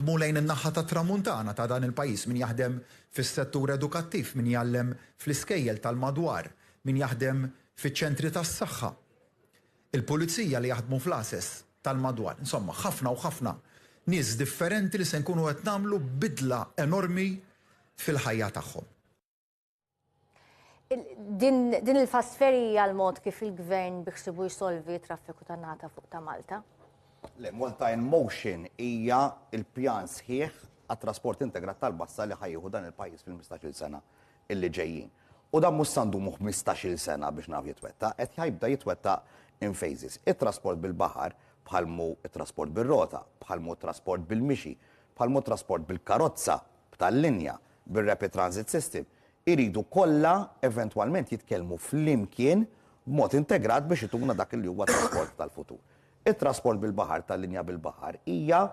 Dmu lejn in-naħa tat-Tramuntana ta' dan il-pajjiż, min jaħdem fis-settur edukattiv, min jgħallem fl-iskejjel tal-madwar, min jaħdem fiċ-ċentri tas-saħħa, il-pulizija li jaħdmu fl-għases tal-madwar, insomma, ħafna u ħafna nies differenti li se nkunu qed nagħmlu bidla enormi fil-ħajja tagħhom. Din il-fast ferry hija l-mod kif il-gvern biħsibu jsolvi traffiku ta' nata fuq ta' Malta? Le, Malta in Motion hija l-pjan sħiħ għat-trasport integrat tal-bassa li ħajjieħu dan il-pajjiż fil-15-il sena illi ġejjin. U dan mhux sa ndumu 15-il sena biex naf jitwettaq, qed jibda jitwettaq in phases. It-trasport bil-baħar bħal mhu t-trasport bir-rota, bħal mhu t-trasport bil-mixi, bħal mhu t-trasport bil-karozza b'tal-linja, bir-Rapid Transit System, iridu kollha eventwalment jitkellmu flimkien b'mod integrat biex ituna dak li huwa t-trasport tal-futur. It-trasport bil-baħar tal-linja bil-baħar hija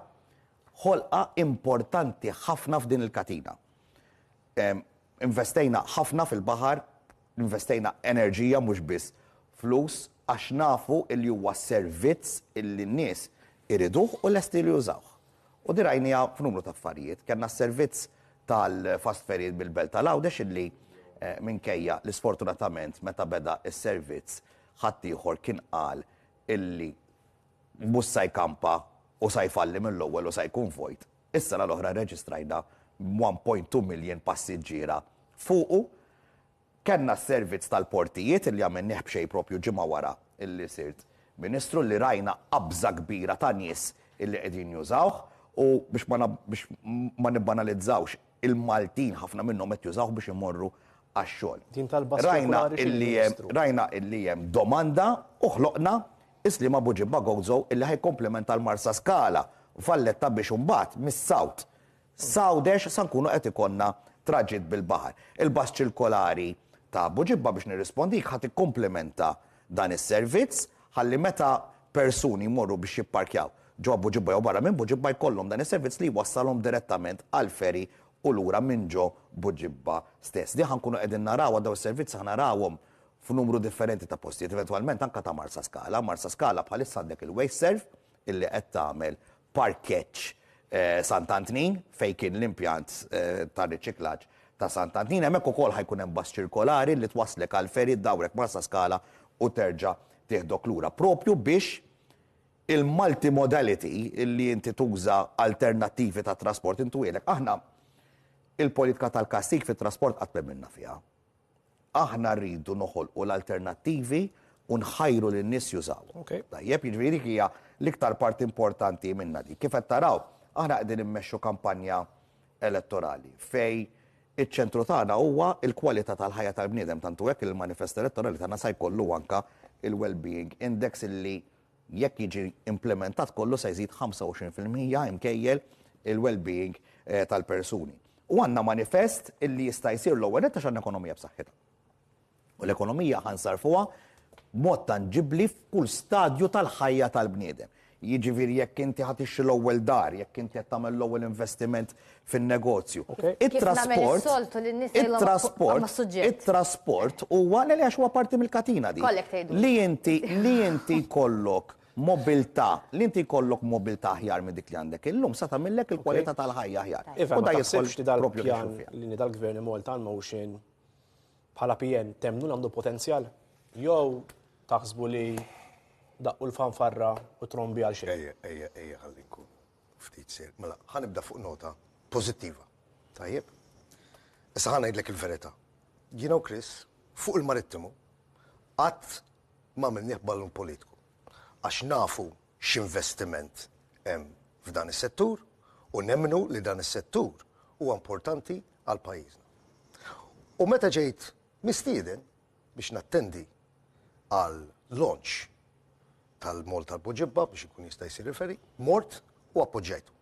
ħolqa importanti ħafna f'din il-katina. Investejna ħafna fil-baħar, Investejna enerġija mhux biss flus għax nafu li huwa servizz li n-nies iriduh u lesti li jużawh. U din rajniha f'numru ta' affarijiet. Kellna s-servizz tal-fast ferries bil-Belt tal-Għawdex li minkejja li sfortunatament meta beda s-servizz ħaddieħor kien qal li l-bus sa jkampa u sa jfalli mill-ewwel u sa jkun vojt. Is-sena l-oħra rreġistrajna 1.2 miljun passiġġiera fuqu. Kellna s-servizz tal-portijiet li għamilnieh b'xejn proprju ġimgħa wara li sirt Ministru li rajna qabża kbira ta' nies li qegħdin jużawh u biex ma nibbanalizzawx il-Maltin ħafna minnhom qed jużawh biex imorru għax-xogħol. Rajna illi hemm domanda u ħloqna Is-sliem Abu Ġibba Gozo illi ħa jikkomplementa l-Marsaskala, Valletta biex imbagħad mis-South, S'Għawdex sa nkunu qed ikollna traġitt bil-baħar. Il-bus ċilkolari ta' Abu Ġibba biex nirrispondik ħa tikkomplementa dan is-servizz ħalli meta persuni jmorru biex jipparkjaw ġo Abu Ġibba jew barra minn Bu Ġibba jkollhom dan is-servizz li jwassalhom direttament għall-ferry u lura minn ġo Bu Ġibba stess. Din ħa nkunu qegħdin narawha dawn is-servizzi ħa narawhom f'numru differenti ta' postijiet, eventwalment anke ta' Marsaskala. Marsaskala bħalissa għandek il-Wasteserv illi qed tagħmel parkeġġ Sant'Antnin fejn kien l-impjant ta' riċiklaġġ ta' Sant'Antnin. Hemmhekk ukoll ħa jkun hemm bus ċirkolari li twasslek għall-ferry, ddawrek Marsaskala u terġa' tieħdok lura. Proprju biex il-multimodality, illi inti tuża alternattivi ta' trasport, intuhielek. Aħna il-politika tal-kastig fit-trasport qatt m'emminna fiha. Aħna rridu noħolqu l-alternattivi u nħajru lin-nies jużawhom. Ok. Tajjeb, jiġifieri dik hija l-iktar parti importanti minnha dik. Kif qed taraw, aħna qegħdin immexxu kampanja elettorali fejn iċ-ċentru tagħna huwa l-kwalità tal-ħajja tal-bniedem, tant hu hekk li l-manifest elettorali tagħna sa jkollu anke l-Wellbeing Index li Jekk jiġi implimentat kollu se jżid 25 fil-mija imkejjel il-wellbeing tal-persuni. U għandna manifest illi jista' jsir l-ewwel nett għax għandna ekonomija b'saħħitha. U l-ekonomija ħa nsarrfuha b'mod tanġibbli f'kull stadju tal-ħajja tal-bniedem. Jiġifieri jekk inti ħa tixtri l-ewwel dar, jekk inti qed tagħmel l-ewwel investiment fin-negozju. It-trasport, it-trasport huwa li għax huwa parti mill-katina di. Li inti, li inti kollok mobilità, li inti kollok mobilità aħjar minn dik li għandek illum, sa tagħmillek il-kwalità tal-ħajja aħjar. U da jidħol f'xi propju biex nagħmlu fija. Li inti dal-gvern imur ta' motion bħala PN temnu li għandu potenzjal? Jew taħsbu li daqqu l-fanfarra u trombi għal xejn? Ejja, ejja, ejja ħalli nkun. Ftit sejr. Mela, ħa nibda fuq nota pożittiva. Tajjeb? Issa ħa ngħidlek il-verità. Jiena u Chris, fuq il-Marittimu, qatt m'għamilnieh ballun politiku. Għax nafu x'investiment hemm f'dan is-settur u nemmnu li dan is-settur huwa importanti għal pajjiżna. U meta ġejt mistieden, biex nattendi għal launch tal-mall tal-Poġibba biex ikun jista' jsir referee, mort u appoġġajtu.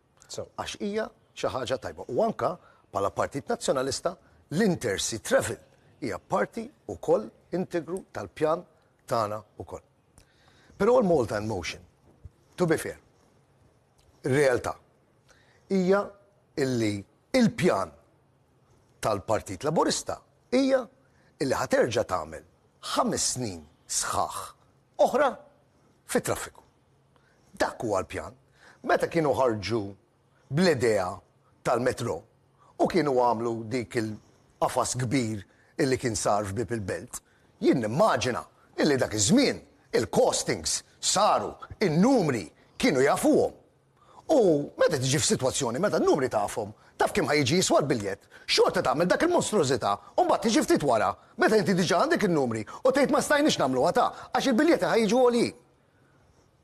Għax hija xi ħaġa tajba. U anka bħala Partit Nazzjonalista l-Intercity Travel hija parti wkoll integru tal-pjan tagħna wkoll. Però l-Malta in Motion, to be fair, ir-realtà hija illi il-pjan tal-Partit Laburista hija li ħa terġa' tagħmel ħames snin sħaħ oħra fit-traffiku. Dak huwa l-pjan. Meta kienu ħarġu bl-idea tal-metro u kienu għamlu dik il-qafas kbir illi kien sar f'Bieb il-Belt, jien nimmaġina illi dak iż-żmien il-costings saru, in-numri kienu jafuhom. U meta tiġi f'sitwazzjoni meta n-numri tafhom, taf kemm ħa jiġi jiswa l-biljett, xorta tagħmel dak il-monstrużità u mbagħad tiġi ftit wara, meta inti diġà għandek in-numri, u tgħid ma stajniex nagħmluha ta' għax il-biljetti ħa jiġu għoljin.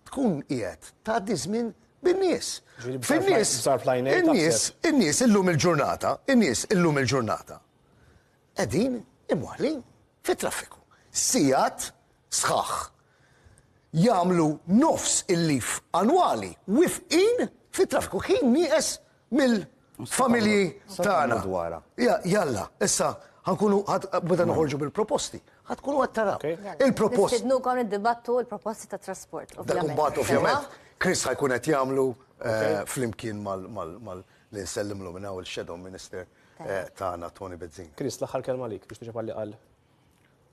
Tkun qiegħed tgħaddi żmien bin-nies. Fin-nies, in-nies, in-nies illum il-ġurnata, in-nies illum il-ġurnata qegħdin imwaħħlin fit-traffiku. Sigħat sħaħ, jagħmlu nofs il-leave annwali wifqin fit-traffiku ħin nieqes mill-familji tagħna. Jalla, issa ħankunu meta noħorġu bil-proposti, ħatkunu qed taraw. Il-proposti. Nistidnukom niddibattu l-proposti ta' trasport. Dak imbagħad ovvjament Chris ħajkun qed jagħmlu flimkien mal li nsellimlu minn hawn il-Shadow Minister tagħna Toni Bezzin. Chris, l-aħħar kelma għalik biex tiġi palli qal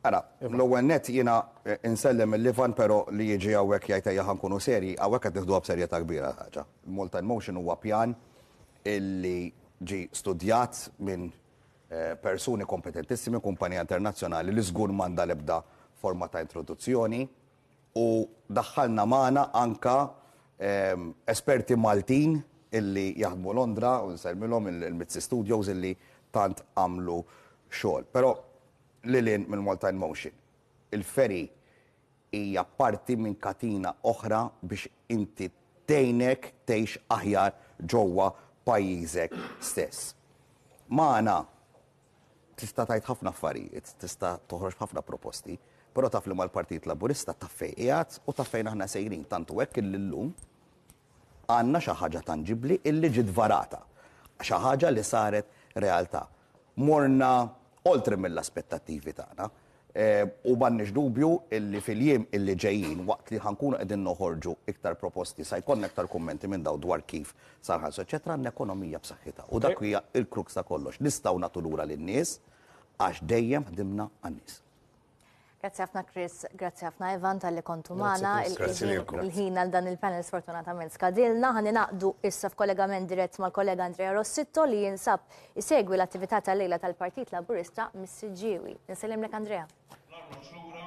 Mela, l-ewwel nett jiena nsellem lil Ivan però li jiġi hawnhekk jgħid ejja ħa nkunu serji, hawnhekk qed nieħduha b'serjetà kbira l-ħaġa. Il-Malta in Motion huwa pjan illi ġie studjat minn persuni kompetentissimi, kumpanija internazzjonali li żgur m'għandha l-ebda forma ta' introduzzjoni. u daħħalna magħna anke esperti Maltin illi jaħdmu Londra u nsellmilhom il-Mizzi Studios illi tant għamlu xogħol. Però lil hinn mill-Malta in Motion, il-ferry hija parti minn katina oħra biex inti tgħinek tgħix aħjar ġewwa pajjiżek stess. Magħna Tista' tgħid ħafna affarijiet, tista' toħroġ b'ħafna proposti, però taf li mal-Partit Laburista taf fejn qiegħed u taf fejn aħna sejrin. Tant hu hekk illi llum għandna xi ħaġa tanġibbli illi ġiet varata, xi ħaġa li saret realtà. Morna oltre mill-aspettattivi tagħna, U m'għandniex dubju illi fil-jiem illi ġejjin, waqt li ħa nkunu qegħdin noħorġu iktar proposti, sa jkollna iktar kummenti minn dawn dwar kif sa nħarsu eċċetera, għandna ekonomija b'saħħitha. U dak hija l-crux ta' kollox. Nistgħu nagħtu lura lin-nies għax dejjem ħdimna għan-nies. Grazzi ħafna Chris, grazzi ħafna Ivan talli kontu magħna. Grazzi lilkom. Il-ħin għal dan il-panel sfortunatament skadilna. Ħa ningħaqdu issa f'kollegament dirett mal-kollega Andrea Rossitto li jinsab Isegwi l-attività tal-lejla tal-Partit Laburista mis-Siġġiewi. Insellimlek Andrea. L-arloġġ lura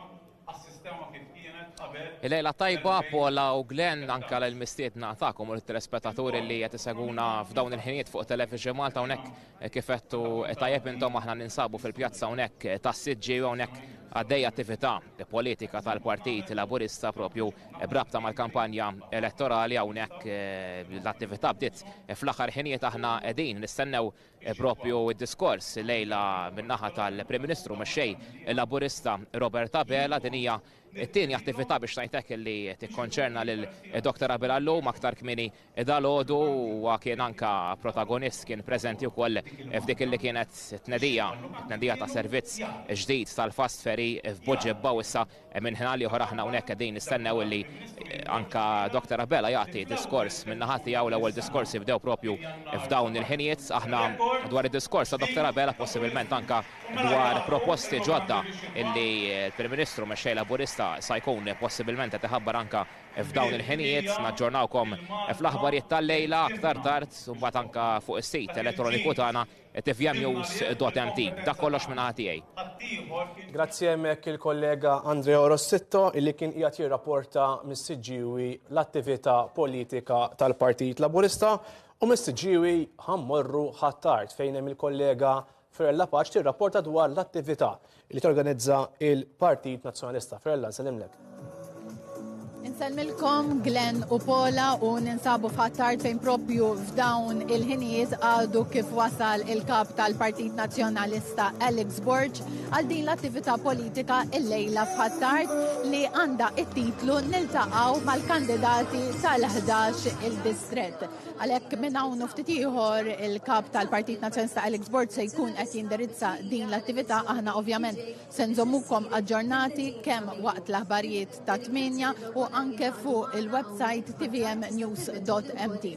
għas-sistema kif kienet qabel. Lejla tajba Paula u Glenn anke għal il-mistiedna tagħkom u lit-telespettaturi li qed isegwuna f'dawn il-ħinijiet fuq Television Malta hawnhekk kif għedtu tajjeb intom aħna ninsabu fil-pjazza hawnhekk tas-Siġġiewi hawnhekk għaddejja attività politika tal-Partit Laburista propju B'rabta mal-kampanja elettorali hawnhekk l-attività bdiet fl-aħħar ħinijiet aħna qegħdin nistennew propju d-diskors lejla min-naħa tal-Prim Ministru mexxej Laburista Robert Abela. Din hija t-tieni attività biex ngħidlek li tikkonċerna lil Dr. Abela llum. Aktar kmieni Dalgħodu huwa kien anke protagonist, kien preżenti wkoll f'dik li kienet tnedija, tnedija ta' servizz ġdid tal-Fast Ferry f'Buġibba u issa minn ħin għal ieħor aħna hawnhekk qegħdin nistennew illi anke Dr. Abela jagħti diskors min-naħa tiegħu l-ewwel diskorsi bdew propju f'dawn il-ħinijiet. Aħna dwar id-diskors ta' Dr. Abela possibilment anke dwar proposti ġodda illi l-Prim Ministru mexxej Laburista sa jkun possibilment qed iħabbar anke F'dawn il-ħinijiet naġġornawkom fl-aħbarijiet tal-lejla aktar tard u mbagħad anke fuq is-sit elettroniku tagħna tvmnews.mt. Dak kollox minn naħa tiegħi. Grazzi hemmhekk il-kollega Andrea Rossitto illi kien qiegħed jirrapporta mis-Siġġiewi l-attività politika tal-Partit Laburista u mis-Siġġiewi ħa mmorru Ħ'Attard fejn hemm il-kollega Firella Paċ tirrapporta dwar l-attività li torganizza il-Partit Nazzjonalista. Firella, nsellimlek. Insellmilkom Glenn u Pola u ninsabu f'ħattart fejn propju f'dawn il-ħinijiet għadu kif wasal il-kap tal-Partit Nazzjonalista Alex Borg għal din l-attività politika il-lejla f'ħattart li għanda it-titlu niltaqaw mal-kandidati tal-11 il-distret. Għalhekk minn hawn ftit ieħor il-kap tal-Partit Nazzjonista Alex Bord se jkun qed jindirizza din l-attività aħna ovvjament se nżommukom aġġornati kemm waqt l-aħbarijiet ta' tminja u anke fuq il-website tvmnews.mt.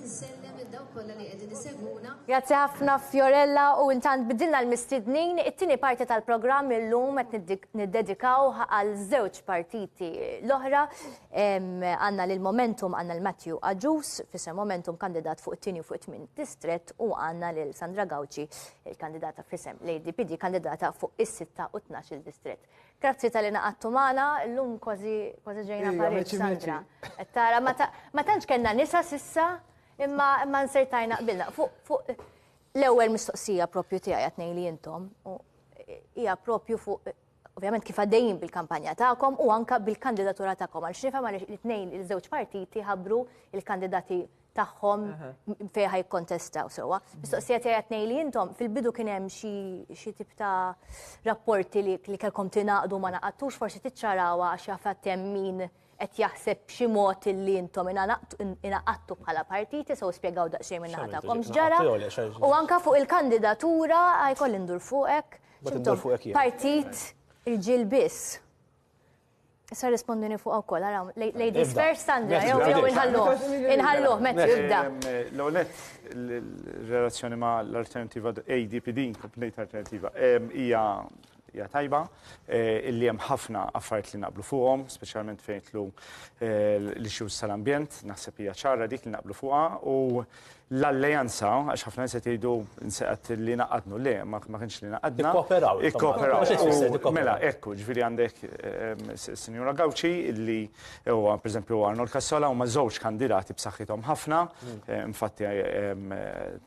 Grazzi ħafna Fiorella u intant bidilna l-mistednin it-tieni parti tal-programm illum qed niddedikaw għal żewġ partiti l-oħra Għandna lil Momentum, għandna lil Matthew Agius f'isem Momentum, kandidat fuq it-tieni u fuq it-tmien distrett u għandna lil Sandra Gauci, il-kandidata f'isem l-ADPD, kandidata fuq is-sitta u tnax-il distrett. Grazzi tal-li naqadtu magħna, illum kważi kważi ġejna parir Sandra. Qed tara ma tantx kellna nisa s'issa imma imma nsertajna qbilna. Fuq l-ewwel mistoqsija proprju tiegħi qed ngħid li intom hija proprju fuq ovvjament kif għaddejjin bil-kampanja tagħkom u anka bil-kandidatura tagħkom għal xnifhem għal it-tnejn il-żewġ partiti ħabru il-kandidati tagħhom fejn ħaj kontestaw sewwa. Mistoqsija tiegħi tnejn li intom fil-bidu kien hemm xi tip ta' rapporti li kellkom tingħaqdu ma naqattux forsi tiċċarawha għax jaf hemm min qed jaħseb b'xi mod illi intom ingħaqadtu bħala partiti, so spjegaw daqsxejn min-naħa tagħkom x'ġara. U anke fuq il-kandidatura jkolli ndur fuqek. Partit irġiel biss. Issa rispondini fuq ukoll, ara, ladies first, Sandra, jew jew inħalluh, inħalluh, meta jibda. L-għonet, relazzjoni ma' l-alternativa ADPD, kompnejt alternativa, hija Hija tajba illi hemm ħafna affarijiet li naqblu fuqhom, speċjalment fejn jitlu l-issues tal-ambjent, naħseb hija ċara dik li naqblu fuqha u l-alleanza, għax ħafna nies qed jgħidu nsaqgħet li naqadnu, le ma kienx li naqadna. Ikkooperaw. Ikkooperaw. Mela, ekku, ġifieri għandek is-Sinjura Gauci illi huwa pereżempju Arnold Cassola huma żewġ kandidati b'saħħithom ħafna, infatti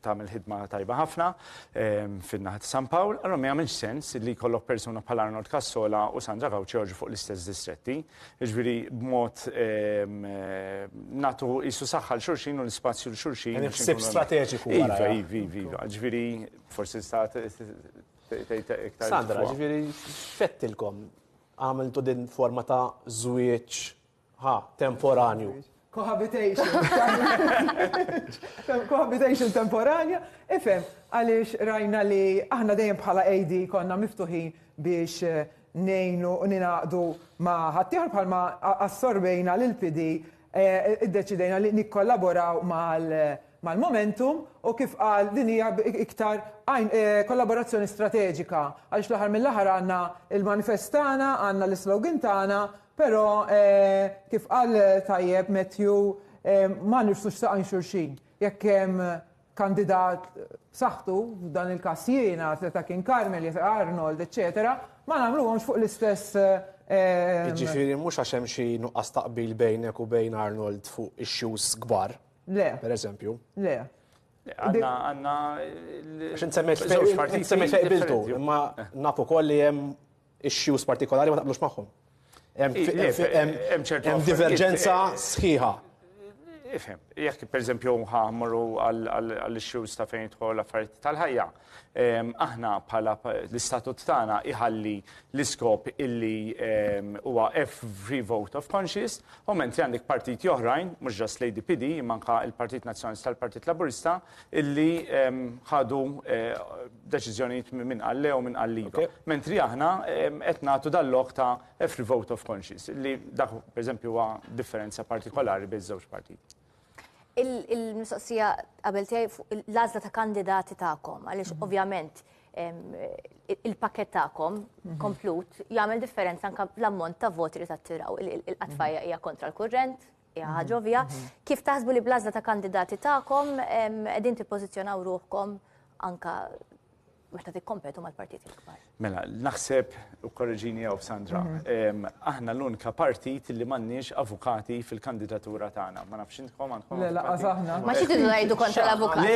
tagħmel ħidma tajba ħafna. fin-naħa ta' San Pawl, allura ma jagħmilx sens li jkollok persuna bħal Arnold Cassola u Sandra Gauci joħorġu fuq l-istess distretti. Jiġifieri b'mod nagħtu qisu saħħa 'l xulxin u l-ispazju 'l xulxin. Hemm ħsieb strateġiku wara. Iva, iva, iva, iva. Jiġifieri forsi tista' tgħid iktar. Sandra, jiġifieri x'fettilkom? Għamiltu din forma ta' żwieġ Ha, temporanju. Cohabitation. Cohabitation temporanja. Ifem, għaliex rajna li aħna dejjem bħala AD konna miftuħin biex eh, nejnu u ninaqdu ma ħattijħor bħalma assorbejna l-PD eh, id-deċidejna li nikkollaboraw mal-momentum u kif qal din hija iktar eh, kollaborazzjoni strateġika għaliex l-aħħar mill-aħħar għandna il-manifestana, għandna l-slogan tagħna Però, kif qal tajjeb Matthew, ma nirfsux saqajn xulxin. Jekk hemm kandidat b'saħħtu, f'dan il-każ jiena, seta' kien Carmel jew seta' Arnold, eċċetera, ma nagħmluhomx fuq l-istess. Jiġifieri mhux għax hemm xi nuqqas ta' qbil bejnek u bejn Arnold fuq issues kbar, per eżempju. Le. Le, għandna. Għax int semmejt li qbiltu, imma naf ukoll li hemm Ix-xjus partikolari ma taqblux magħhom. Hemm diverġenza sħiħa. Ifhem, jekk pereżempju ħamru għall-xjus ta' fejn jidħol affarijiet tal-ħajja, aħna bħala l-istatut tagħna iħalli l-iskop illi huwa every vote of conscience, u mentri għandek partiti oħrajn, mhux ġast l-ADPD, manka l-Partit Nazzjonalista tal-Partit Laburista, illi ħadu deċiżjonijiet min qal le u min qal iva. Mentri aħna qed nagħtu dal-lok ta' every vote of conscience, li dak pereżempju huwa differenza partikolari bejn żewġ partiti. Il-mistoqsija qabel tiegħi fuq l-għażla ta' kandidati tagħkom, għaliex ovvjament il-pakket tagħkom komplut jagħmel differenza anke l-ammont ta' voti li tattiraw. Il-qatfajja hija kontra l-kurrent, Hija ħaġa ovvja. Kif taħsbu li bl-għażla ta' kandidati tagħkom qegħdin tippożizzjonaw ruħkom anka meta tikkompetu mal-partiti l-kbar? Mela, naħseb u korreġini jew Sandra, mhm. aħna l-unika partit li m'għandniex avukati fil-kandidatura tagħna. Ma nafx intkom għandkom. Le, laqas aħna. Ma xi tidu ngħidu kontra l-avukati. Le,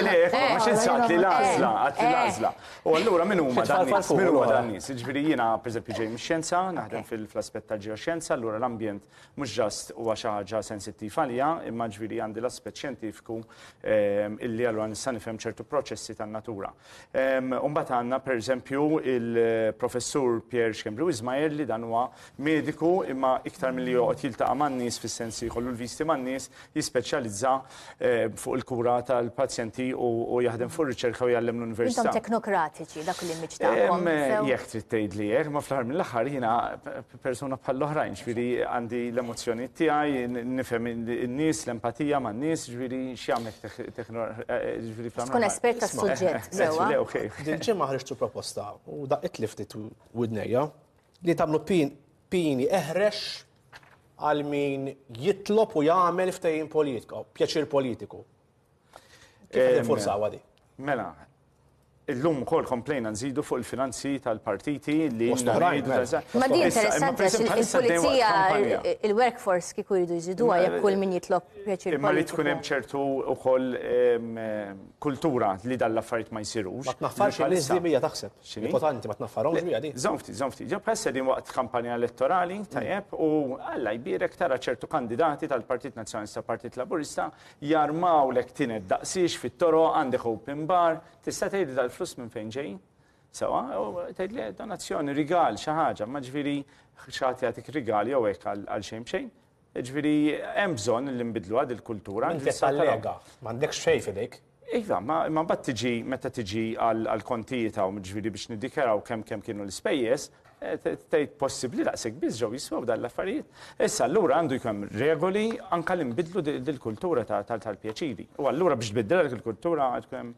le, ma xi nsaqt li l-għażla, għad li l-għażla. U allura min huma dan nies? Min huma dan nies? Jiġifieri jiena pereżempju ġej mix-xjenza, naħdem fil-aspett tal-ġeoxjenza, allura l-ambjent mhux ġast huwa xi ħaġa sensittiv għalija, imma ġifieri għandi l-aspett xjentifiku ehm, illi allura nista' nifhem ċertu proċessi tan-natura. Ehm, u mbagħad għandna pereżempju il-professur Pierre Xkembri Ismael li dan huwa mediku imma iktar milli joqgħod jiltaqa' man-nies fis-sens li jkollu l-visti man-nies, jispeċjalizza fuq il-kura tal-pazjenti u jaħdem fuq ir-riċerka u jgħallem l-università. Intom teknokratiċi dak l-immiġ tagħkom. Jekk trid tgħidli hekk, ma fl-aħħar mill-aħħar jiena persuna bħall-oħrajn, ġifieri għandi l-emozzjonijiet tiegħi, nifhem in-nies, l-empatija man-nies, ġifieri x'jagħmel ġifieri fl-aħħar. Tkun espert tas-suġġett sewwa. Dil-ġimgħa ħriġtu proposta u daqqiet li ftit widnejja li tagħmlu pieni eħrex għal min jitlob u jagħmel ftehim politiku, pjaċir politiku. Kif eh, jinfurzaw għadi? Mela, Illum kol komplejna nżidu fuq il-finanzi tal-partiti li mela. Ma di interessanti il-pulizija il-workforce kiku jridu jżidu għajja kull min jitlob pjaċir. Imma li tkun hemm ċertu ukoll kultura li dal-affarijiet ma jsirux. Ma tnaħfarx il-iżdibija taħseb. X'inhi? Importanti ma tnaffarhomx biha din. Żomm ftit, żomm ftit. Ġo bħal sedin waqt kampanja elettorali, tajjeb, u Alla jbierek tara ċertu kandidati tal-Partit Nazzjonalista u Partit Laburista jarmawlek tinet daqsiex fit-toroq, għandek open bar, tista' tgħidli dal-flus minn fejn ġejjin? Sewwa, u tgħidli donazzjoni, rigal, xi ħaġa, ma ġifieri xi ħadd jagħtik rigal jew hekk għal xejn b'xejn. Jiġifieri hemm bżonn li nbiddluha din il-kultura. Int qed tallega, m'għandekx xejn f'idejk. Iva, imma mbagħad tiġi meta tiġi għall-kontijiet hawn, jiġifieri biex niddikjaraw kemm kemm kienu l-ispejjeż, tgħid possibbli daqshekk biss ġew jiswew dawn l-affarijiet. Issa allura għandu jkun hemm regoli anke li nbiddlu din il-kultura tal-pjaċiri. U allura biex tbiddilha dik il-kultura għandu jkun hemm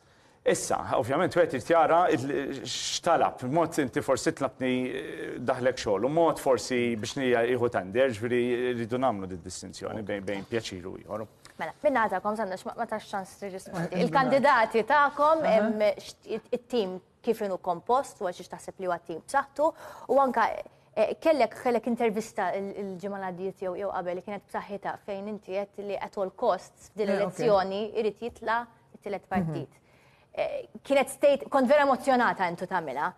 Issa, ovvjament wieħed irid jara x'talab. Mod inti forsi tlabtni daħlek xogħol u mod forsi biex nija jieħu tender, ġifieri rridu nagħmlu did-distinzjoni bejn pjaċir u ieħor. Mela, min-naħa tagħkom, Sandra, ma tax ċans tirrispondi. Il-kandidati tagħkom, it-tim kif inhu kompost u għal xiex taħseb li huwa tim b'saħħtu u anka eh, kellek kellek intervista il-ġimgħa l-għaddiet jew jew qabel li kienet b'saħħitha fejn inti qed li at all costs f'din eh, l-elezzjoni irid jitla' it-tielet mhm. partit. Eh, kienet state, kont vera emozjonata intu tagħmilha.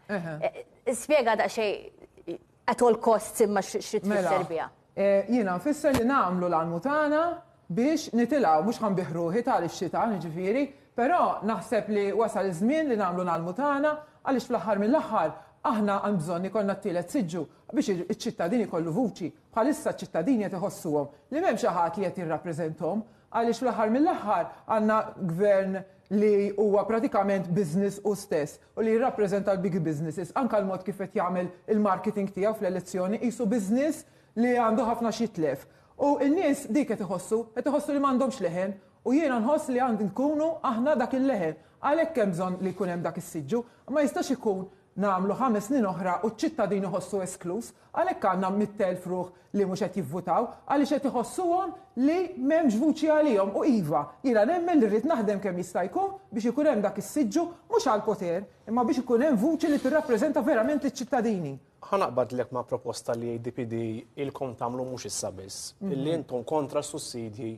Spjega daqsxejn at all costs imma xi tfisser mela, biha. Jiena nfisser li nagħmlu l-almu tagħna biex nitilgħu, mhux ħa nbiħ ruħi ta' ix-xita, jiġifieri, però naħseb li wasal iż-żmien li nagħmlu l-almu tagħna għaliex fl-aħħar mill-aħħar aħna għan bżonn ikollna t-tielet siġġu biex iċ-ċittadin ikollu vuċi. Bħalissa ċ-ċittadini qed iħossuhom li m'hemm xi ħadd li qed jirrappreżenthom għaliex fl-aħħar mill-aħħar għandna gvern li huwa pratikament business hu stess. u li jirrappreżenta l-big businesses, anke l-mod kif qed jagħmel il-marketing tiegħu fl-elezzjoni, qisu business li għandu ħafna x'jitlef. U n-nies dik qed iħossu, qed iħossu li m'għandhomx leħen. U jiena nħoss li għand inkunu aħna dak il-leħen. Għalhekk hemm bżonn li jkun hemm dak is-siġġu. Ma jistax ikun nagħmlu ħames snin oħra u ċ-ċittadin iħossu eskluż. Għalhekk għandna mitt elf ruħ li mhux qed jivvutaw għaliex qed iħossuhom li m'hemmx vuċi għalihom u iva, jiena nemmen li rrid naħdem kemm jista' jkun biex ikun hemm dak is-siġġu mhux għall-poter imma biex ikun hemm vuċi li tirrappreżenta verament liċ-ċittadini. Ħa naqbadlek ma' proposta li ADPD ilkom tagħmlu mhux issa biss, li intom kontra s-sussidji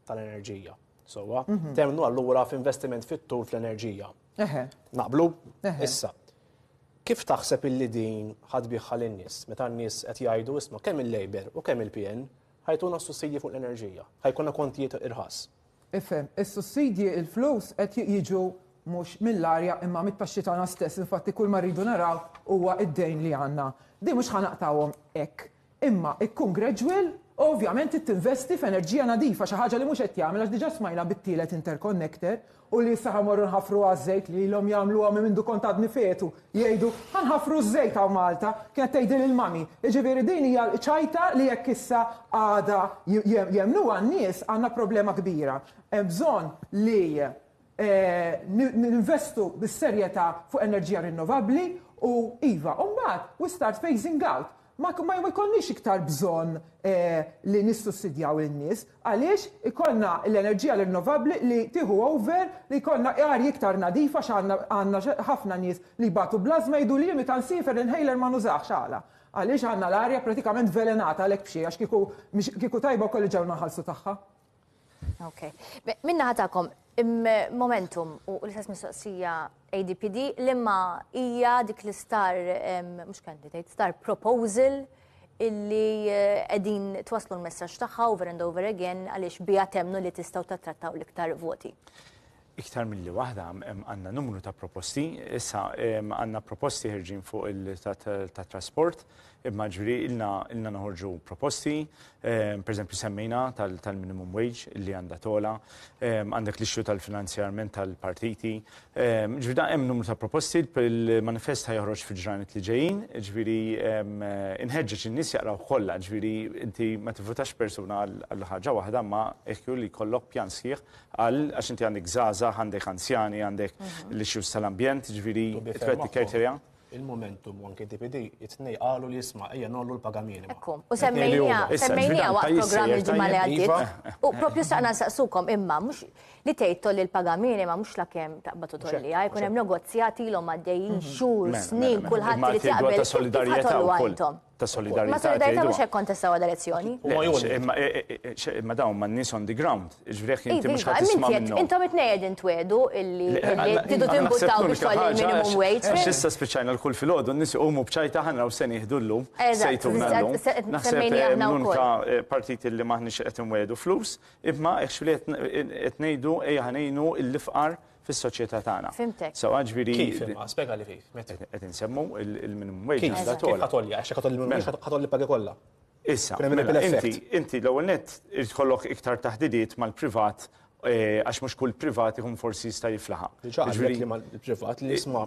tal-enerġija. Sewwa, temnu allura f'investiment fit-tul fl-enerġija. Naqblu? Issa, kif taħseb illi din ħa tbiegħha lin-nies meta n-nies qed jgħidu, isma' kemm il-Labour u kemm il-PN ħa jtuna s-sussidji fuq l-enerġija, ħa jkollna kontijiet irħas? Ifhem, is-sussidji, il-flus qed jiġu mhux mill-arja imma mit-taxxi tagħna stess, infatti kull ma rridu naraw huwa d-dejn li għandna. Din mhux ħa naqtgħuhom hekk. Imma kkun gradual u ovvjament trid tinvesti f'enerġija nadifa, xi ħaġa li mhux qed jagħmel għax diġà smajna bit-tielet interconnector u li issa ħa mmorru nħaffruha ż-żejt li ilhom jagħmluha minn mindu kont għadni fetu, jgħidu, ħa nħaffru ż-żejt hawn Malta, kienet tgħidilha l-mummy. Jiġifieri din hija ċajta li jekk issa għada jemmnuha n-nies għandna problema kbira. Hemm bżonn li ninvestu bis-serjetà fuq enerġija rinnovabbli u, iva, u mbagħad we start phasing out. Ma jkollniex iktar bżonn li nissussidjaw lin-nies għaliex ikollna l-enerġija rinnovabbli li tieħu over li jkollna arja iktar nadifa għandna ħafna nies li jbatu bl-ażma jgħiduli jien meta nsiefer l-inhaler ma nużahx għala? Għaliex għandna l-arja pratikament vvelenata għalhekk b'xejn għax kieku kieku tajba wkoll li ġewna nħallsu tagħha. Okay. Minna ħatakom, momentum u l-istess mistoqsija ADPD li ma hija dik l-star, mux candidate, star proposal illi edin eh, twaslu l-messaġġ tagħha over and over again għaliex bija temnu li tistgħu tattrattaw l-iktar voti. iktar milli waħda, għandna numru ta' proposti. Issa għandna proposti ħerġin fuq il-tat-trasport, imma ġifieri ilna noħorġu proposti, pereżempju semmejna tal-minimum wage li għandha togħla, għandek l-issue tal-finanzjarment tal-partiti. Ġifieri dan hemm numru ta' proposti, il-manifest ħa joħroġ fil-ġranet li ġejjin, ġifieri inħeġġeġ in-nies jaqrawh kollha, ġifieri inti ma tivvutax persuna għal ħaġa waħda, imma jekk hu li jkollok pjan sħiħ Qal, għax inti għandek żgħażagħ, għandek anzjani, għandek l-issues tal-ambjent, jiġifieri twetti criteria. Il-Momentum u anke DPD, it-tnej qalu li isma' ejja nollu l-paga minima. Ekku, u semmejnija, semmejnija waqt programm il-ġimgħa li għaddiet. U propju staqna nsaqsukom imma mhux li tgħid tolli l-paga minima mhux la kemm taqbad u tolliha, jkun hemm negozjati ilhom għaddejjin xhur, snin, kulħadd irid jaqbel. Imma tgħidu ta' solidarjetà wkoll. ta' solidarjetà. Ma' solidarjetà mhux hekk kontestawha l-elezzjoni. Imma dawn ma' nies on the ground. Ġifieri jekk inti mhux ħadd tisma' minnhom. Intom it-tnejn qegħdin twegħdu illi tridu timbuttaw biex tolli l-minimum wage. Għax issa spiċċajna l-kull filgħodu n-nies iqumu b'ċajta ħanra u se nieħdu llum. Se jtuna llum. Naħseb li aħna l-unika partit illi m'aħniex qed inwegħdu flus, imma hekk xogħol qed ngħidu ejja ħa ngħinu l-ifqar fis-soċjetà tagħna. Fhimtek. Sewwa ġifieri. Kif imma? Spjegali kif. Qed insemmu il-minimum wage għandha togħla. Kif ħa tgħolli? Għax jekk ħa tgħolli minimum wage ħa tgħolli pagi kollha. Issa, inti l-ewwel nett irid tkollok iktar taħdidiet mal-privat għax mhux kull privat ikun forsi jista' jiflaħha. Ġifieri li mal-privat li jisma'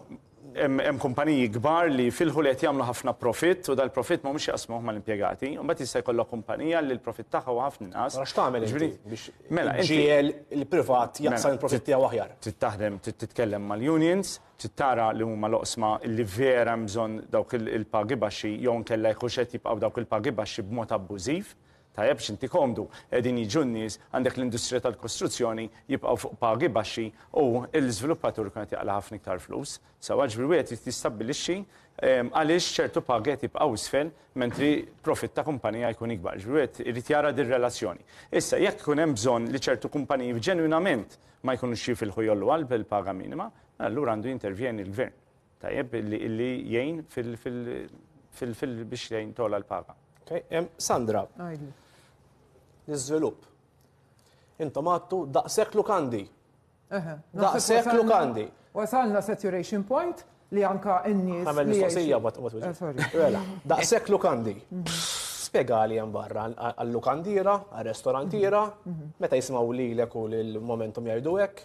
Hemm kumpaniji kbar li jfilħu li qed jagħmlu ħafna profitt u dal-profitt m'humiex jaqsmuh mal-impjegati. Imbagħad jista' jkollok kumpanija li l-profitt tagħha huwa ħafna inqas. Allura x'tagħmel inti Jiġifieri, biex mela inti iġġiegħel il-privat jaqsam mela, il-profitt tiegħu aħjar? Trid taħdem, trid titkellem mal-unions, trid tara li huma l-oqsma li vera hemm bżonn dawk il-pagi baxxi jew inkella jekk hux qed jibqgħu dawk il-pagi baxxi b'mod abbużiv. Tajjeb x'inti komdu, qegħdin jiġu n-nies, għandek l-industrija tal-kostruzzjoni, jibqgħu fuq pagi baxxi u l-iżviluppatur ikun qed jaqla' ħafna iktar flus. Sewwa, ġifieri wieħed irid jistabbilixxi għaliex ċertu pagi qed jibqgħu isfel mentri profitt ta' kumpanija jkun ikbar. Ġifieri wieħed irid jara dir-relazzjoni. Issa, jekk ikun hemm bżonn li ċertu kumpaniji ġenwinament ma jkunux jifilħu jgħolluha l-paga minima, mela allura għandu jintervjeni l-gvern. Tajjeb, illi jgħin biex jgħin tola l-paga. Sandra, l-izvilup. Intom għattu daqsek lukandi. Daqsek lukandi. Wasalna saturation point li anka n-nies. Għamel mistoqsija, what was it? Mela, daqsek lukandi. Spiega li jem barra għal-lukandira, għal-restorantira, meta jismaw li l-eku l-momentum jajdu ek.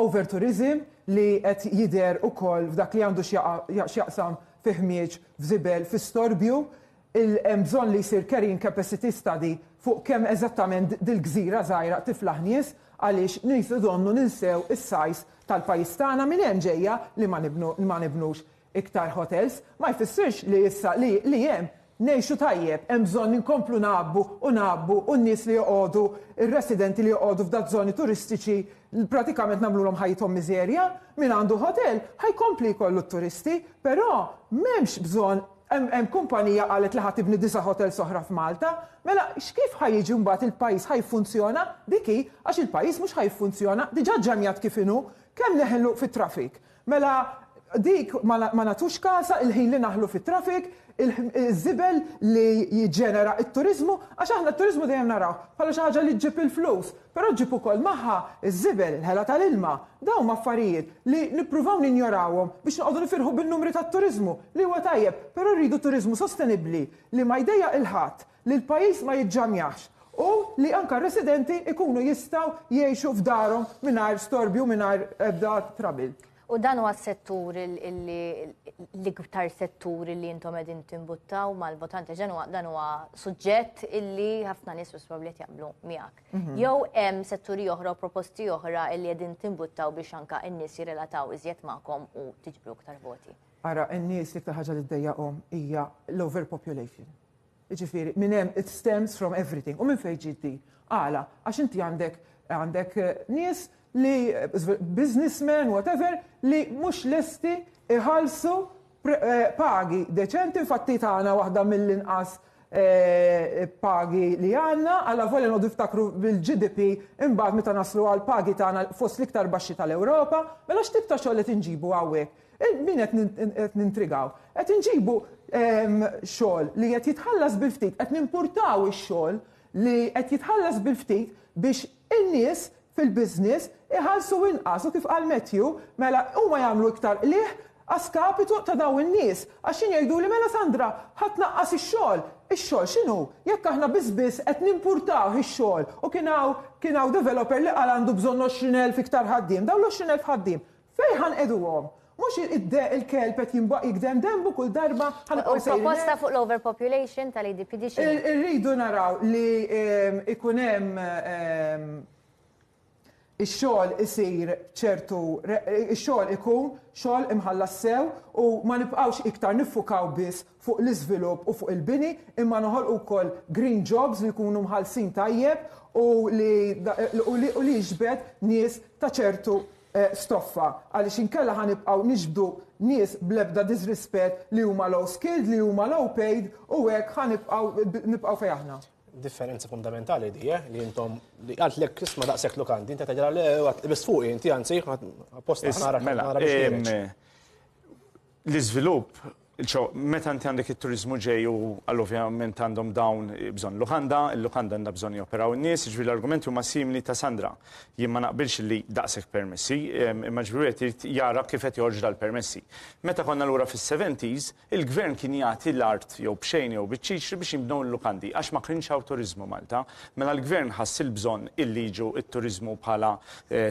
Overtourism li qed jidher ukoll f'dak li għandu x'jaqsam fi ħmieġ, f'żibel, fi storbju. Hemm bżonn li jsir carrying capacity study fuq kemm eżattament dil-gżira żgħira tiflaħ nies għaliex nies idonnu ninsew is-size tal-pajjiż tagħna minn hemm ġejja li ma nibnux. Iktar hotels ma jfissirx li issa li li hemm ngħixu tajjeb, hemm bżonn inkomplu ngħabbu u ngħabbu u n-nies li joqogħdu, ir-residenti li joqogħdu f'dak żoni turistiċi pratikament nagħmlulhom ħajjithom miżerja. Min għandu hotel ħa jkompli jkollu t-turisti, però m'hemmx bżonn hemm hemm kumpanija qalet li ħa tibni disa' hotels oħra f'Malta. Mela x'kif ħa jiġi mbagħad il-pajjiż ħa jiffunzjona? Dik hi, għax il-pajjiż mhux ħa jiffunzjona, diġà ġġemjat kif inhu, kemm neħlu fit-traffic. Mela dik ma nagħtux kasha, il-ħin li naħlu fit-traffic, iż-żibel li jiġġenera t-turiżmu, għax aħna t-turiżmu dejjem narawh bħala xi ħaġa li ġġib il-flus, però ġġib ukoll magħha ż-żibel, il-ħela tal-ilma. Dawn huma affarijiet li nippruvaw ninjorawhom biex noqogħdu nifirħu bin-numri tat-turiżmu, li huwa tajjeb, però rridu turiżmu sostenibbli li ma jdejjaq lil ħadd. li l-pajjiż ma jiġġamjax u li anke r-residenti jkunu jistgħu jgħixu f'darhom mingħajr storbju u mingħajr ebda trouble. U dan huwa s-settur l-iktar settur li intom qegħdin timbuttaw mal-votanti ġen huwa dan huwa suġġett illi ħafna nies probabbli qed jaqblu miegħek. Mhm. Jew hemm setturi oħra u proposti oħra illi qegħdin timbuttaw biex anke n-nies jirrelataw iżjed magħkom u tiġbru iktar voti. Ara, n-nies li iktar ħaġa li ddejjaqhom hija l-overpopulation. Jiġifieri, minn hemm it stems from everything. U minn fejn ġiet di? Għala? Għax inti għandek għandek nies li businessmen, whatever, li mhux lesti jħallsu pagi deċenti, infatti tagħna waħda mill-inqas pagi li għandna, alla volja noqogħdu niftakru bil-GDP imbagħad meta naslu għall-pagi tagħna fost l-iktar baxxi tal-Ewropa, mela x'tip ta' xogħol qed inġibu hawnhekk? Min qed nintrigaw? Qed inġibu xogħol li qed jitħallas bil-ftit, qed nimpurtaw ix-xogħol li qed jitħallas bil-ftit biex in-nies fil-business iħallsu inqas u kif qal Matthew, mela huma jagħmlu iktar qligħ a skapitu ta' dawn in-nies għax xi ngħiduli mela Sandra ħa tnaqqas ix-xogħol, ix-xogħol x'inhu jekk aħna biss biss qed nimpurtaw ix-xogħol u kien hawn kien hawn developer li qal għandu bżonn għoxrin elf iktar ħaddiem, dawn l-għoxrin elf ħaddiem Fejn ħa nqegħduhom? Mhux il-kelb qed jinbaq jigdem denbu kull darba ħa nibqgħu sejrin hekk? U proposta fuq l-overpopulation tal-ADPD x'inhi? Irridu naraw li jkun hemm ix-xogħol isir b'ċertu ix-xogħol ikun xogħol imħallas sew u ma nibqgħux iktar niffukaw biss fuq l-iżvilupp u fuq il-bini, imma noħolqu wkoll green jobs li jkunu mħallsin tajjeb u li u li u li jiġbed nies ta' ċertu stoffa, għaliex inkella ħa nibqgħu niġbdu nies bl-ebda disrispett li huma low skilled, li huma low paid u hekk ħa nibqgħu nibqgħu fejn aħna. differenza fundamentali di eh, li intom li għalt lek isma daqshekk lukandi, inti tgħidilha le għat biss fuqi inti anzi apposta Is- nara mela, nara biex em, ħireġ. L-iżvilupp, ċo, meta inti għandek it-turiżmu ġej u għal ovvjament għandhom dawn bżonn lukanda, il-lukanda għandha bżonn joperaw in-nies, jiġifieri l-argumenti huma simili ta' Sandra. Jien ma naqbilx li daqshekk permessi, imma jiġifieri wieħed irid jara kif qed joħorġu dal-permessi. Meta konna lura fis-seventies, il-gvern kien jagħti l-art jew b'xejn jew biċ-ċiċri biex jinbnew il-lukandi għax ma kienx hawn turiżmu Malta. Mela l-gvern ħass il-bżonn illi jiġu t-turiżmu bħala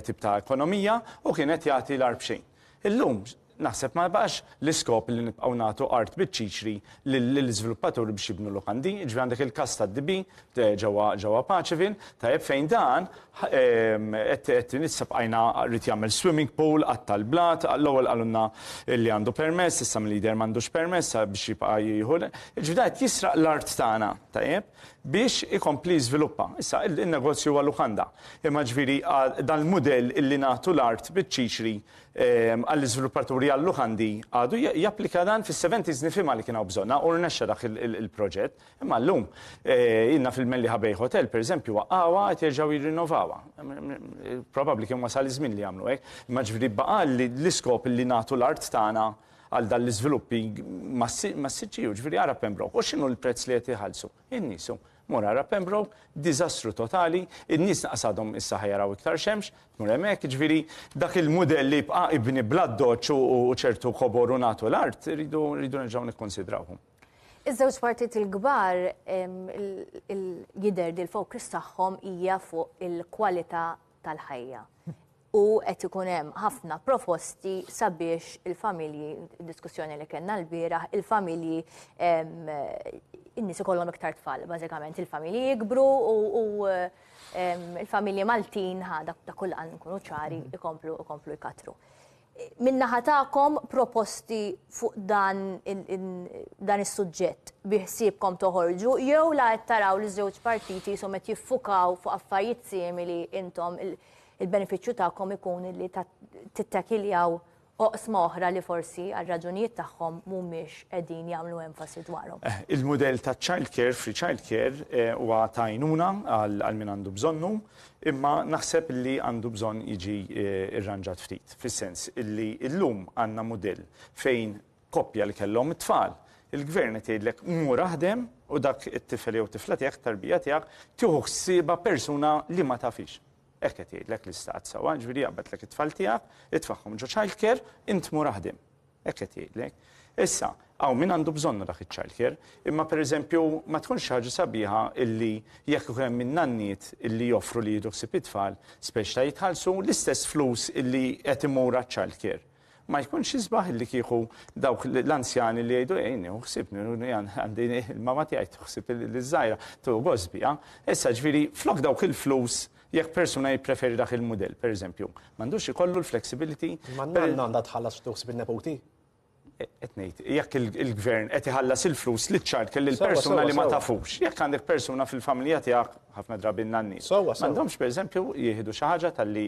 tip ta' ekonomija u kien qed jagħti l-art b'xejn. Illum, Naħseb ma jibqax l-iskop li nibqgħu nagħtu art biċ-ċiċri lill-iżviluppaturi biex jibnu lukandi, jiġifieri għandek il-każ tad-DB ġewwa ġewwa Paceville, tajjeb, fejn dan qed qed issa bqajna rrid jagħmel swimming pool, qatta' l-blat, l-ewwel qalulna li għandu permess, issa milli jidher m'għandux permess sa biex jibqa' jieħu l jiġifieri dan qed jisraq l-art tagħna, tajjeb, biex ikompli jiżviluppa. Issa in-negozju huwa lukanda. Imma ġifieri dan l-mudell illi nagħtu l-art biċ-ċiċri Għall-iżviluppaturi għal-lukandi għadu japplika dan fis-seventies nifhimha li kien hawn bżonnha u rnexxa dak il-proġett. Imma llum ilna fil-Mellieħa Bay Hotel pereżempju waqqgħuha qed jerġgħu jirrinnovawha. Probabbli kien wasal iż-żmien li jagħmlu hekk. Imma ġifieri baqa' l-iskop li nagħtu l-art tagħna għal dan l-iżviluppi massiċċi, jiġifieri ara Pembroke. U x'inhu l-prezz li qed iħallsu? In-nies hu. Mor ara Pembroke, diżastru totali, in-nies lanqas għadhom issa ħa jaraw iktar xemx, tmur hemmhekk, jiġifieri dak il-mudell li ibqa' ibni bl-addoċċ u ċertu kobor u nagħtu l-art, irridu rridu nerġgħu nikkunsidrawhom. Iż-żewġ partijiet il-kbar jidher li l-focus tagħhom hija fuq il-kwalità tal-ħajja. U qed ikun hemm ħafna proposti sabiex il-familji, diskussjoni li kellna l-bieraħ, il-familji in-nies ikollhom iktar tfal, bażikament il-familji jikbru u il-familji Maltin ħada ta' kull għan nkunu ċari ikomplu ikomplu jkatru. min-naħa tagħkom proposti fuq dan dan is-suġġett biħsiebkom toħorġu jew la qed taraw li ż-żewġ partiti qishom qed jiffukaw fuq affarijiet simili intom il-benefiċċju tagħkom ikun li tittakiljaw oqsma oħra li forsi għal raġunijiet tagħhom mhumiex qegħdin jagħmlu enfasi dwarhom. Il-mudell taċ-child care, free child care, huwa ta' għajnuna għal min għandu bżonnu. Imma naħseb li għandu bżonn jiġi rranġat ftit, fis-sens li llum għandna mudell fejn koppja li kellhom it-tfal, il-Gvern qed jgħidlek mur aħdem u dak it-tifel jew tifla tiegħek, tarbija tiegħek, tieħu ħsiebha persuna li ma tafhiex. Hekk qed jgħidlek l-Istat sewwa, jiġifieri jaqbadlek it-tfal tiegħek, itfagħhom ġo childcare, int mur aħdem. Hekk qed jgħidlek. Issa, hawn min għandu bżonnu dak iċ-childcare, imma pereżempju ma tkunx xi ħaġa sabiħa illi jekk ikun hemm in-nanniet illi joffru li jieħdu ħsieb it-tfal, speċi ta' jitħallsu l-istess flus illi qed imur għaċ-childcare. Ma jkunx isbaħ illi kieku dawk l-anzjani li jgħidu ejn nieħu ħsieb, għandi il-mama tiegħi tieħu ħsieb liż-żgħira, tieħu gost biha. Issa ġifieri flok dawk il-flus Jekk persuna jippreferi dak il-mudell, pereżempju, m'għandux ikollu l-flexibility. Ma n-nanna għandha tħallas ftuħ sib in-nepoti? Qed ngħid, jekk il-gvern qed iħallas il-flus li ċart kelli l-persuna li ma tafux. Jekk għandek persuna fil-familja tiegħek ħafna drabi n-nanni. M'għandhomx pereżempju jieħdu xi ħaġa tal-li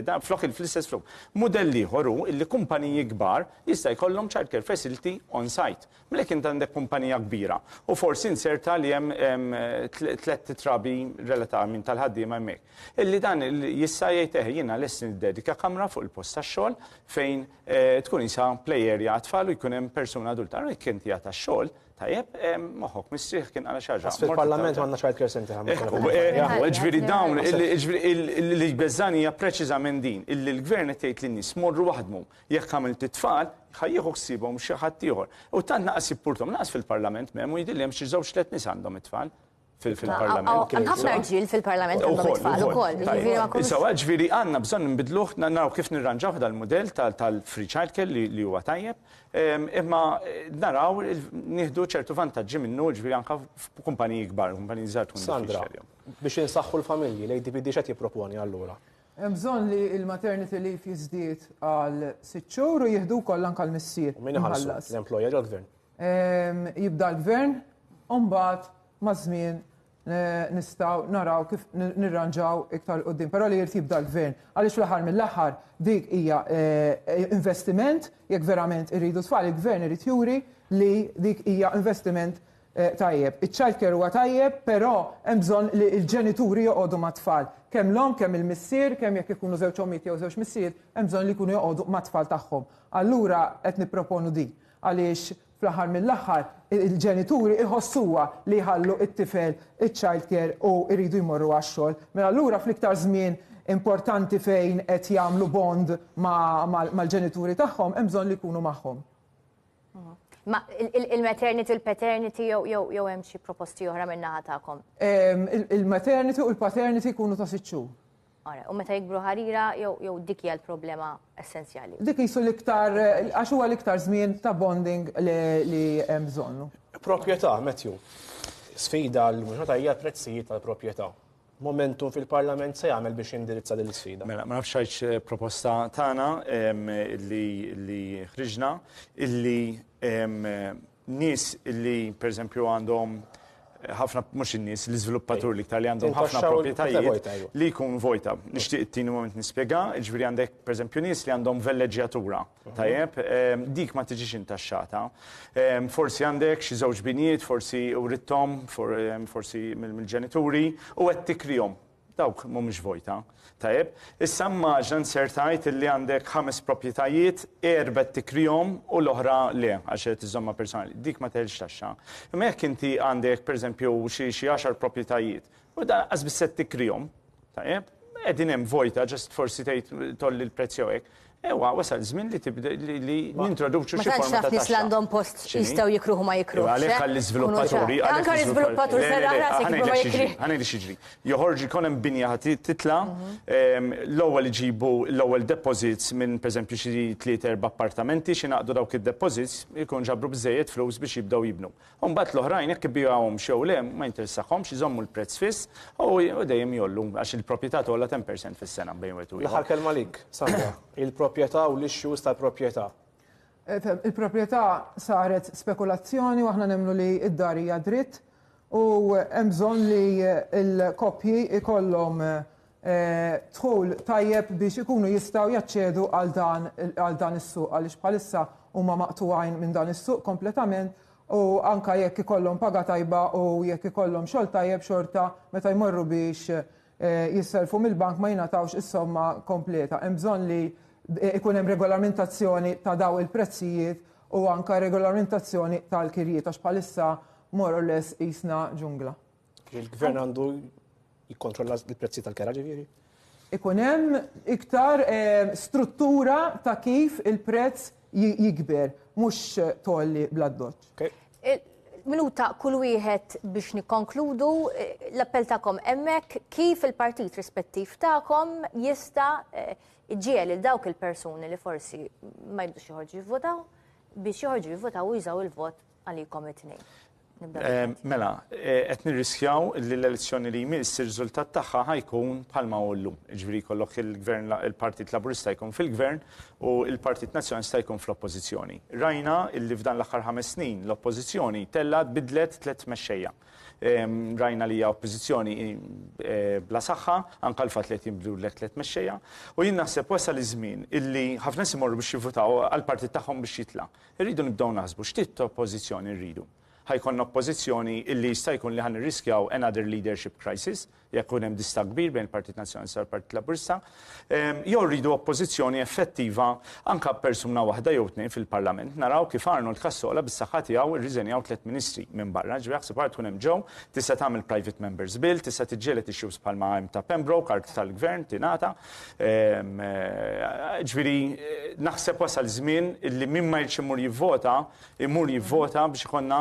dan flok il-flistess flok. Mudell ieħor hu li kumpaniji kbar jista' jkollhom childcare facility on site. Mela jekk int għandek kumpanija kbira u forsi inzerta li hemm tlett trabi relata minn tal-ħaddiema hemmhekk. Illi dan jista' jgħid eh jiena lest niddedika kamra fuq il-post tax-xogħol fejn tkun qisha play area għat-tfal u jkun hemm persuna adulta. Allura jekk inti għad tax-xogħol tajjeb moħħok mistrieħ kien qal xi ħaġa. Fil-Parlament m'għandna child care centre aħna. Ekku, ekku, jiġifieri dawn li jbeżżagħni hija preċiżament din, illi l-Gvern qed jgħid lin-nies morru aħdmu. Jekk għamilt it-tfal, ħa jieħu ħsiebhom xi ħadd ieħor. U tant naqas jippurtom, naqas fil-Parlament m'hemm u jidhirli hemm xi żewġ tliet nies għandhom it-tfal fil-Parlament. Hemm ħafna rġiel fil-Parlament għandhom it-tfal ukoll. Sewa, ġifieri għandna bżonn inbidluh, naraw kif nirranġaw dal-mudell tal-free childcare li huwa tajjeb, imma naraw nieħdu ċertu vantaġġi minnu ġifieri anke f'kumpaniji kbar, kumpaniji żgħar tkun diffiċli għalihom. Sandra, biex insaħħu l-familji, l-ADPD x'qed jipproponi allura? Hemm bżonn li l-maternity leave jiżdied għal sitt xhur u jieħdu wkoll anke l-missier. U min iħallsu? L-employer jew l-gvern? Jibda l-gvern u mbagħad maż-żmien nistgħu naraw kif nirranġaw iktar 'l quddiem. Però li jrid jibda l-gvern. Għaliex fl-aħħar mill-aħħar dik hija investiment jekk verament irridu tfal, il-gvern irid juri li dik hija investiment Tajjeb, iċ-childcare huwa tajjeb, però hemm bżonn li l-ġenituri joqogħdu mat-tfal. Kemm l-omm, kemm il-missier, kemm jekk ikunu żewġ ommijiet jew żewġ missieriet, hemm bżonn li jkunu joqogħdu mat-tfal tagħhom. Allura qed nipproponu din. Għaliex fl-aħħar mill-aħħar il-ġenituri jħossuha li jħallu it-tifel iċ-childcare u jridu jmorru għax-xogħol. Mela allura fl-iktar żmien importanti fejn qed jagħmlu bond mal-ġenituri tagħhom hemm bżonn li jkunu magħhom. Ma il-maternity, il-paternity jew hemm xi proposti oħra minn naħa tagħkom? Il-maternity u l-paternity jkunu ta' sitt xhur. Ora, u meta jikbru ħarira jew dik hija l-problema essenzjali? Dik isu l-iktar għax huwa l-iktar żmien ta' bonding li hemm bżonnu. Proprjetà, Matthew. Sfida l-mhux ħatajja l-prezzijiet tal-proprjetà. momentum fil-Parlament se jagħmel biex jindirizza din l-isfida? Mela, ma nafx għax eh, proposta tagħna li ħriġna illi nies illi pereżempju għandhom eh, ħafna mhux in-nies l-iżviluppatur li iktar li għandhom ħafna proprjetajiet li jkun vojta. Nixtieq it-tieni moment nispjega, ġifieri għandek pereżempju nies li għandhom velleġġjatura. Tajjeb, ehm, dik ma tiġix intaxxata. Ehm, forsi għandek xi żewġ binijiet, forsi urittom, ehm, forsi mill-ġenituri, u qed tikrihom. Dawk mhumiex vojta. Tajjeb, issa mmaġna nsertajt li għandek ħames proprjetajiet, erbet tikrihom u l-oħra le, għax qed iżomma personali. Dik ma teħilx taxxa. Imma jekk inti għandek, pereżempju, xi xi għaxar proprjetajiet, u dan qas biss qed tikrihom, Tajjeb? Qegħdin hemm vojta, ġest forsi tgħid tolli l-prezz jew hekk. Ewa, wasal żmien li tibda li nintroduċu xi forma ta' taxxa. Nis għandhom post jistgħu jikruħu ma jikruħu. Għalhekk għall-iżviluppaturi. Anke l-iżviluppaturi se raħrasek ma jikriħ. Ħanejdi xiġri. Joħorġu jkun hemm binja ħati titla, l-ewwel iġibu l-ewwel deposits minn pereżempju xi tliet erba' appartamenti xi naqdu dawk id-deposits, ikun ġabru biżejjed flus biex jibdew jibnu. U mbagħad l-oħrajn jekk ibigħuhomx jew le ma jinteressahomx, iżommu l-prezz fiss u dejjem jgħollu għax il-proprjetà tgħolla 10% fis-sena bejn wieħed u ieħor. L-aħħar kelma għalik, Sandra. Il-proprjetà u l-issues tal-proprjetà. Il-proprjetà saret spekulazzjoni u aħna nemmnu li d-dar hija dritt u hemm bżonn li l-koppji jkollhom dħul tajjeb biex ikunu jistgħu jaċċedu għal dan is-suq għaliex bħalissa huma maqtugħin minn dan is-suq kompletament u anke jekk ikollhom paga tajba u jekk ikollhom xogħol tajjeb xorta meta jmorru biex jissellfu mill-bank ma jingħatawx is-somma kompleta. Hemm bżonn li ikun hemm regolamentazzjoni ta' dawn il-prezzijiet u anke regolamentazzjoni tal-kirjiet għax bħalissa more or less qisna ġungla. Il-gvern għandu jikkontrolla l-prezzi tal-kera ġifieri? Ikun hemm iktar eh, struttura ta' kif il-prezz jikber, mhux tolli bl-addoċ. Minuta kull wieħed biex nikkonkludu eh, l-appell tagħkom hemmhekk kif il-partit rispettiv tagħkom jista' eh, ġiel il dawk il-persuni li forsi ma jibdux joħorġu jivvotaw biex joħorġu jivvotaw u jużaw il-vot Għalikom it-tnejn. Mela, qed nirriskjaw li l-elezzjoni li jmiss ir-riżultat tagħha ħajkun bħalma hu llum. Jiġifieri jkollok il-Gvern il-Partit Laburista jkun fil-Gvern u l-Partit Nazzjonalista jkun fl-Oppożizzjoni. Rajna li f'dan l-aħħar ħames snin l-Oppożizzjoni tellgħet bidlet tliet mexxejja. Rajna li hija Oppożizzjoni bla saħħa, anke l-fatt li qed jinbdlulek tliet mexxejja. U jien naħseb wasal iż-żmien illi ħafna nies imorru biex jivvutaw għall-partit tagħhom biex jitla'. Irridu nibdew naħsbu x'tit ta' oppożizzjoni rridu. Ħa jkollna oppożizzjoni illi jista' jkun li ħa nirriskjaw another leadership crisis jekk ikun hemm distakk kbir bejn il-Partit Nazzjonalista u l-Partit Laburista, jew rridu oppożizzjoni effettiva anke b'persuna waħda jew tnejn fil-Parlament. Naraw kif Arnold Cassola bis-saħħa tiegħu rriżenjaw tliet Ministri minn barra, jiġifieri aħseb ara tkun hemm Joe, tista' tagħmel Private Members Bill, tista' tiġġieled issues bħalma hemm ta' Pembroke, art tal-Gvern tingħata, Ġifieri naħseb wasal żmien li min ma jridx imur jivvota, imur jivvota biex ikollna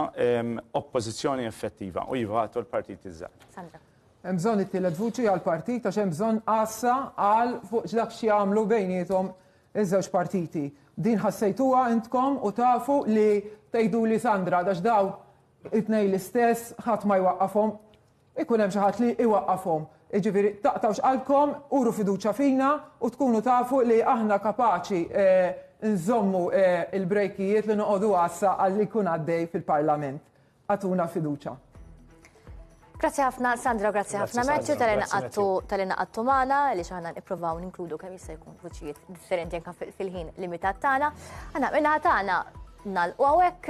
oppożizzjoni effettiva u jivatu l-partiti ż-żgħar. Sandra. Hemm bżonn it-tielet vuċi għall-partit għax hemm bżonn għassa għal fuq dak x'jagħmlu bejniethom iż-żewġ partiti. Din ħassejtuha intkom u tafu li tgħiduli Sandra għax dawn it-tnejn l-istess ħadd ma jwaqqafhom. Ikun hemm xi ħadd li jwaqqafhom. Jiġifieri, taqtgħux qalbkom, uru fiduċja fina u tkunu tafu li aħna kapaċi nżommu l-brejkijiet li noqogħdu għassa għal li jkun għaddej fil-Parlament. Agħtuna fiduċja. Grazzi ħafna Sandra, grazzi ħafna Matthew tal inqattu tal inqattu magħna li xaħna nippruvaw ninkludu kemm jista' jkun vuċijiet differenti anke fil-ħin limitat tagħna. Għana minna tagħna nal u għawek